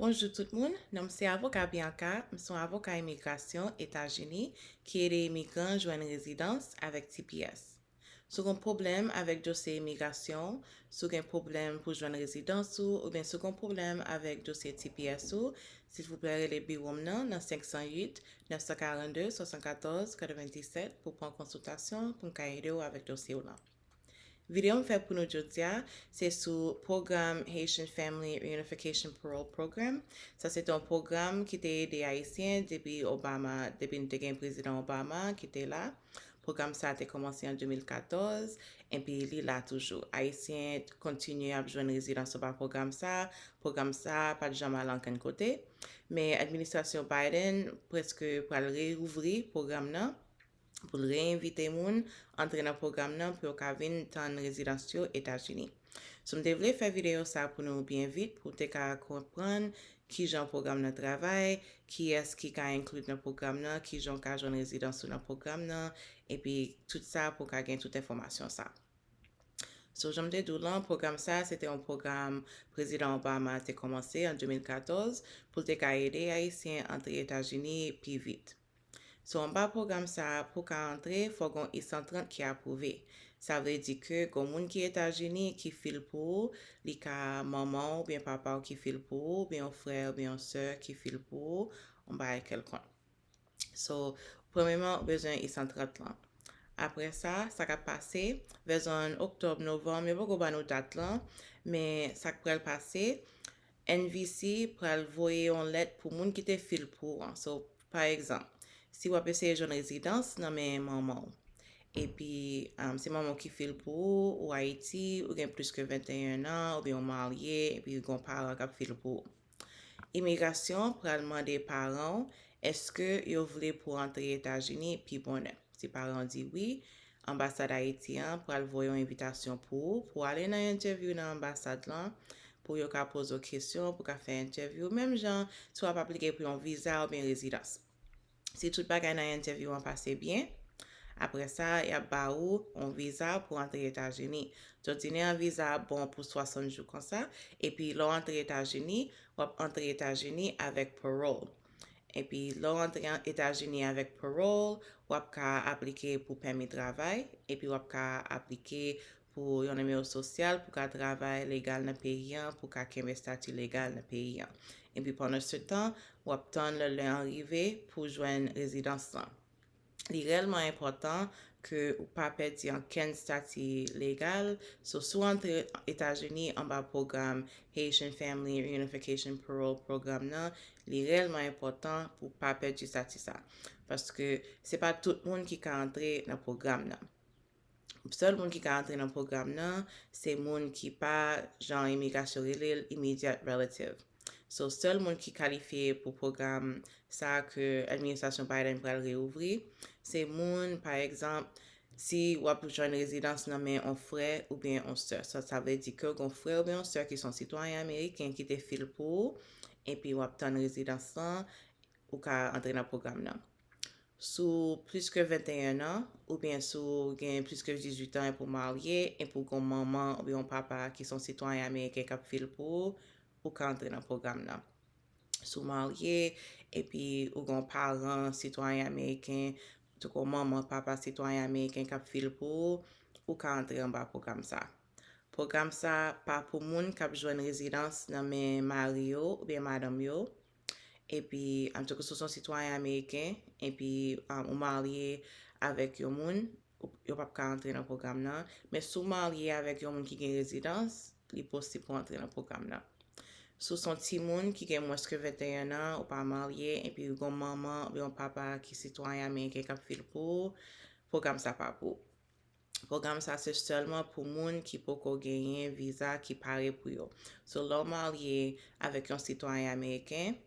Bonjou tout moun, non m se avoka Bianca, m son avoka imigrasyon Etazini ki ede imigran jwenn rezidans avèk tps. Si w gen pwoblèm avèk dosye imigrasyon w, si w gen pwoblèm pou jwenn rezidans ou oubyen si w gen pwoblèm avèk dosye tps ou, silvouplè rele biwo m nan nan 508 942 74 97 pou w pran konsiltasyon pou m ka ede w avèk dosye w lan. Videyo m fè pou nou jodia se sou pwogram Haitian Family Reunification Parole Program. Sa se te yon pwogram ki te ede Ayisyen depi Obama, depi nou te gen Prezidan Obama ki te la. Pwogram sa te kòmanse an 2014, enpi li la toujou. Ayisyen kontinye ap jwenn rezidans anba pwogram sa. Pwogram sa pa t janm al ankenn kote. Men administrasyon Biden prèske pral reyouvri pwogram nan. pou l reinvite moun antre nan pwogram nan pou yo ka vin tann rezidans yo Etazini. Sou m te vle fè videyo sa pou nou byen vit pou w te ka konprann kijan pwogram nan travay, kiyès ki ka include nan pwogram nan, kijan w ka jwenn rezidans ou nan pwogram nan epi tout sa pou w ka gen tout enfòmasyon sa. So jan m te di w lan pwogram sa se te yon pwogram Prezidan Obama te kòmanse an 2014 pou l te ka ede Ayisyen antre Etazini pi vit. So anba pwogram sa a pou ka antre fò gon I 130 ki apwouve. Sa vle di ke gon moun ki Etazini ki fil pou ou, li ka manman w oubyen papa w ki fil pou ou oubyen yon frè oubyen yon sè ki fil pou ou yon bagay kèlkonk. So premyeman ou bezwen I 130 lan. Aprè sa, sa ka pase vè zòn oktòb, novanm, yo poko ba nou dat lan men sa k pral pase NVC pral voye yon lèt pou moun ki te fil pou ou an. So, pa egzanp, si wap eseye jwenn rezidans nan men manman w, epi se manman w ki fil pou ou, ou Ayiti, ou gen plis ke 21 an, oubyen ou marye epi gen yon paran kap fil pou ou. Imigrasyon pral mande paran w eske yo vle pou antre Etazini pi bonè. Si paran w di wi, Anbasad Ayiti an pral voye yon envitasyon pou ou pou ale nan entèvyou nan anbasad lan pou yo ka poze w kesyon ou pou ka fè entèvyou menm jan si w ap aplike pou yon viza oubyen rezidans. Si tout bagay nan entèvyou an pase byen, apre sa y ap ba ou yon viza pou antre Etazini. Dòdinè an viza a bon pou 60 jou konsa epi lè w antre Etazini, w ap antre Etazini avèk parole. Epi lè w antre Etazini avèk parole, w ap ka aplike pou pèmi travay, epi w ap ka aplike pou yon nimewo sosyal pou ka travay legal nan peyi an, pou ka kenbe stati legal nan peyi an. Epi pandansetan, w ap tann lè an rive pou jwenn rezidans lan. li rèlman enpòtan ke ou pa pèdi ankenn stati legal, so si w antre Etazini anba pwogram Haitian Family Reunification Parole Program nan, li rèlman enpòtan pou w pa pèdi stati sa. Paske se pa tout moun ki ka antre nan pwogram nan. Sèl moun ki ka antre nan pwogram nan se moun ki pa, jan imigrasyon rele l, immediate relative. So, sèl moun ki kalifye pou pwogram sa ke administrasyon Biden pral reouvri, se moun, pa egzanp, si w ap jwenn rezidans nan men on frè oubyen on sè. Sa sa vle di ke gon frè oubyen on sè ki se yon sitwayen ameriken ki te fil pou ou, epi w ap tann rezidans lan, ou ka antre nan pwogram nan. Si w plis ke 21 an, oubyen si w gen plis ke 18 an epi w marye, epi w gen yon manman oubyen yon papa ki se yon sitwayen ameriken k ap viv pou ou, ou ka antre nan pwogram nan. Si w marye epi ou gen yon paran sitwayen ameriken, antouka yon manman, papa sitwayen ameriken k ap viv pou ou, ou ka antre anba pwogram sa a. Pwogram sa a pa pou moun k ap jwenn rezidans nan men mari yo oubyen madanm yo, epi amtouka si w se yon sitwayen ameriken epi ou marye avèk yon moun yo pap ka antre nan pwogram nan men si w marye avèk yon moun ki gen rezidans li posib pou antre nan pwogram nan si w se yon timoun ki gen mwens ke 21 an ou pa marye epi ou gen yon manman oubyen yon papa ki sitwayen ameriken kap fil pou ou pwogram sa pa pou ou. Pwogram sa se sèlman pou moun ki poko genyen viza ki pare pou yo. So lè w marye avèk yon sitwayen ameriken,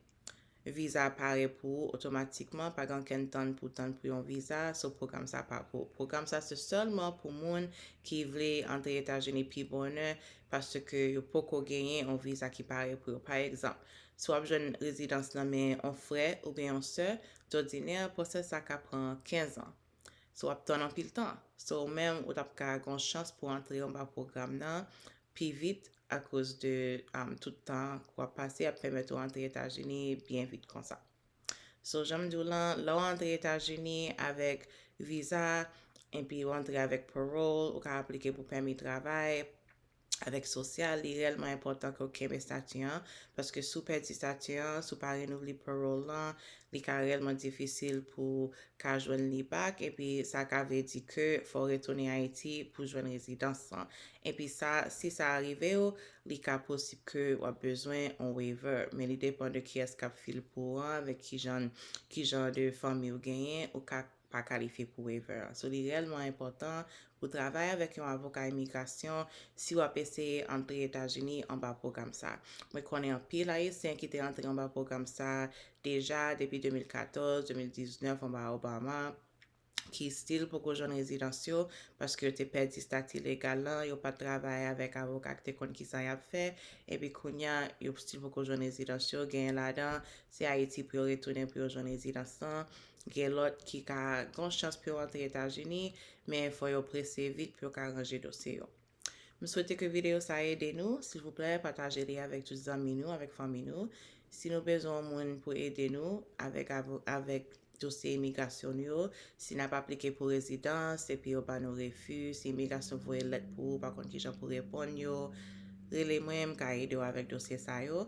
viza pare pou ou otomatikman, pa gen okenn tann pou w tann pou yon viza, so pwogram sa pa pou ou. Pwogram sa se sèlman pou moun ki vle antre Etazini pi bonè paske yo poko genyen yon viza ki pare pou yo. Pa egzanp, si w ap jwenn rezidans nan men yon frè oubyen yon sè, dòdinè pwosè sa ka pran 15 ans. So wap tann anpil tan. So ou menm ou tap ka gon chans pou antre anba pwogram nan pi vit akoz de tout tan ke wap pase ap pèmèt ou antre Etazini byen vit konsa. So janm di w lan, lè w antre Etazini avèk viza epi ou antre avèk parole, ou ka aplike pou pèmi travay, avèk sosyal, li rèlman enpòtan ke w kenbe stati an, paske si w pèdi stati an, si w pa renouvle parole lan, li ka rèlman difisil pou w ka jwenn li back, epi sa ka vle di ke fò w retounen Ayiti pou jwenn rezidans lan. Epi sa, si sa arive w, li ka posib ke w ap bezwen yon waiver, men li depan de kiyès k ap fil pou ou an, avèk kijan, kijan de fanmi w genyen, ou ka. pa kalifye pou waiver an. So li rèlman enpòtan pou travay avèk yon avoka imigrasyon si w ap eseye antre Etazini anba pwogram sa. Mwen konnen anpil Ayisyen ki te antre anba pwogram sa deja depi 2014, 2019 anba Obama ki stil poko jwenn rezidans yo paske yo te pèdi stati legal lan, yo pa t travay avèk avoka ki te konn kisa y ap fè epi kounya yo stil poko jwenn rezidans yo. Genyen ladan se Ayiti pou yo retounen pou yo jwenn rezidans lan. Gen lòt ki ka gen yon chans pou yo antre Etazini, men fò yo prese vit pou yo ka ranje dosye yo. M swete ke videyo sa ede nou, silvouplè pataje li avèk tout zanmi nou, avèk fanmi nou. Si nou bezwen yon moun pou ede nou avèk avèk dosye imigrasyon nou yo, si nap aplike pou rezidans epi yo ba nou refi, si imigrasyon voye lèt pou ou pa konn kijan pou reponn yo, rele mwen m ka ede w avèk dosye sa yo.